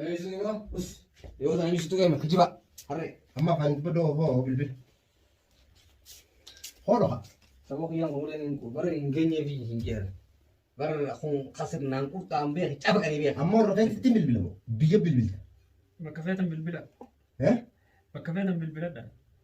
Eeyyisni waan us yoo ta'an ibsituu ga'e mata jibaa harree amma afaan dubba doo hoo bilbil hoo dhoha saboo kiyyaan umuleen bara hin geenyee fi hin jeeran bara kun kasir naan qurxaan beek caba qanii beek amma warra keessatti bilbilamu biyya bilbilta bakka feetan bilbila eh bakka feetan bilbiladha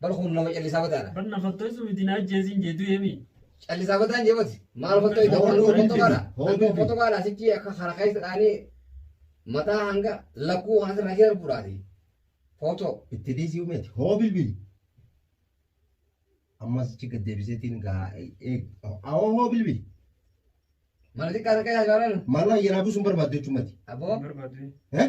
Bar kun nama callisaa bataadha. Bar na fattooysu miti na ajjeesiin jee du'ee mi. Callisaa bataan jee bati. Maal fattooyta Hoo, waan hoo, foto hoo, kaadha. hoo, Waan hoo, foto kaadha sichi akka kana keessa dhaanii mataa hanga lakkuu kana sirraa keessa bu'aati. Foto. Itti dhiisii umeeti. Hoo bilbili. Ammas achi gad deebiseetiin gaa eeg. Awoo hoo bilbili. Mana xiqqaa takka yaa jaalan. Maaloo ayyaanaa buusuun barbaaddu jechuun mati. Aboo. Barbaadu. Eh?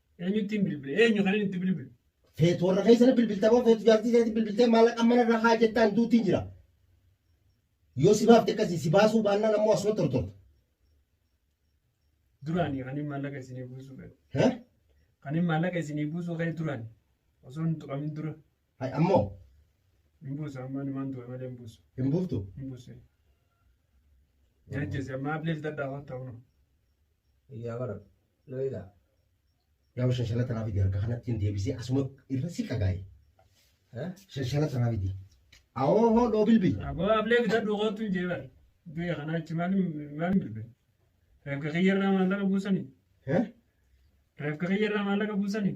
Eenyuttiin bilbile? Eenyu kanin itti bilbile? Feetu warra keessan bilbilta moo feetu jaartii isaatti bilbiltee maallaqa mana irraa haa jettaan duutiin jira. Yoo si baafte akkasii si baasuu baannaan ammoo asuma tortorta. Duraanii kanin maallaqa isinii buusuu fedhu. Hee? Kanin maallaqa isinii buusuu ka'e duraani. Osoo hin tuqamin dura. Hay ammoo Hin buusu ammaa numaan tuqe malee hin buusu. hin buuftu. Hin buusu. Jajjese ammaa ablee bitadhaa hotta hunu. Yaa bara na egaa. Nama shanshana tanaa fidi harka kanatti hin deebisee asuma irra si qagaa'e. Eh? Shanshana tanaa fidi. Awoo hoo dhoo bilbi. Aboo ablee bitadhu kootu hin jee bari. Duya kana achi maaliin maaliin bilbe. Reefka kiyyarraa maallaqa buusanii. Eh? Reefka kiyyarraa maallaqa buusanii.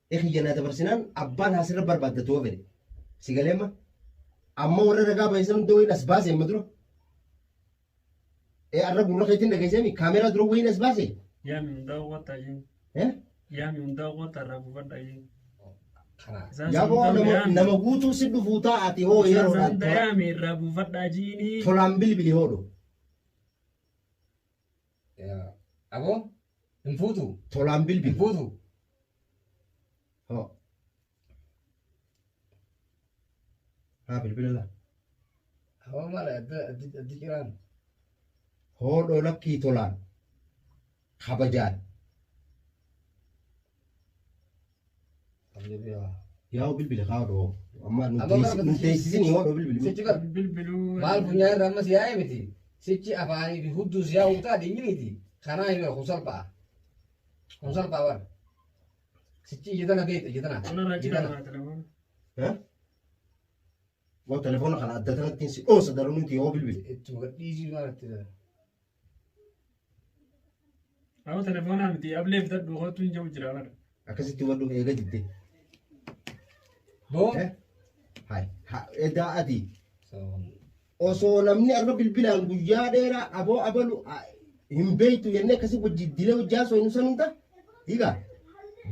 kiyya naa dabarsinaan abbaan haasirra barbaaddatu yoo fedhe si galeemma amma warra ragaa baay'isan dooyin as baase amma dura ee arra gurra keetiin dhageesseemi kaameeraa dura wayiin as baase Yaami hundaa qotta jeen. ee Yaami hundaa qotta irraa buufadha jeen. Isaan yaa boo sun nama dooyaan. nama guutuu si dhufuu taa'ati hoo Isaan yeroodhaan hunda tola- yaami irraa buufadha jiini. tolaan bilbili hoodhu Aboo hin fuutu. Tolaan Hin bilbil. fuutu. Hoo. Haa bilbila laa. Aboo maal adda addi addi jiraan. Hoodhoo lakkii tolaan. Kabajaan. Yaa'u bilbila kaa odoo. Amma nu Amma teessi- bara- nu teessisini yoo odoo bilbili. Sichi bar bilbiluu maal funyaan irra ammas yaa'ee miti sichi afaanii fi hudduus yaa'uu ta'a dhimmi miti kanaa hin kun salpha'a kun salpha'a bar sichi ija tana beekta ija tana Kanarraa ija tana citaa telefoon. Eh? Moo telefoona kana adda tanatti si dhoosa daranuu ti yoo bilbili. ittuma gadhiisii maal itti Awo telefoonaa miti ablee bitadhu kootu hin jiru jira bara. Akkasitti hubachuuf eega didde. Boo. Eh? Hai. Ha, edaa ati. Osoo namni arra bilbilaan guyyaa dheeraa aboo abalu a- hin beektu jennee akkasii wajji dilee hojjaa osoo hin ibsan hunda. Hiika.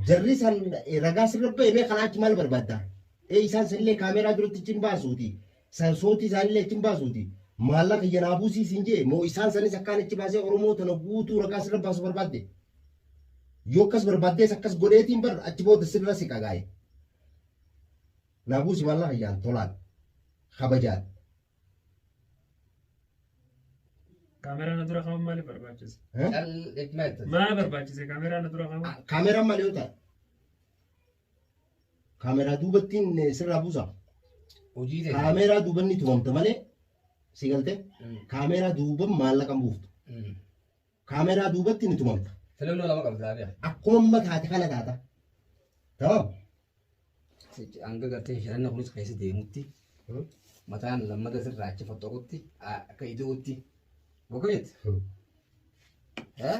Jarri san eh, ragaa sirra ba'e mee kanaa achi maal barbaadda? Ee isaan sanillee kaameeraa duratti cin baasuuti. San sootii isaanillee achi hin baasuuti. Maallaqa kiyya naa buusii siin je'e moo isaan sanis akkaan achi baasee Oromoo tana guutuu ragaa sirra baasu barbaadde? Yoo akkas barbaaddees akkas godheetiin bar achi booda sirra siqa gaa'e. Naa buusi maallaqa kiyyaan tolaan. Kabajaan. Kaameraa na dura kaa'uun maaliif barbaachise? Eh? Cal dhikna itti. Maal barbaachise kaameraa na dura kaa'uun? Kaameraan maal yoo ta'a? Kaameraa duubattiin sirraa buusa. Hojii ta'e. Kaameraa duubanni tumamta malee si galte. Mm. Kaameraa duuban maallaqa hin buuftu. Mm. Kaameraa duubatti ni tumamta. Filannoo lama qabda abia. Akkuma amma taate kana taata. Tamam. Hanga gartee filanna kunis keessa deemutti Hmm. mataan lammata sirraa achi foxxoqutti akka ida'utti gogeet. Hmm. Eh?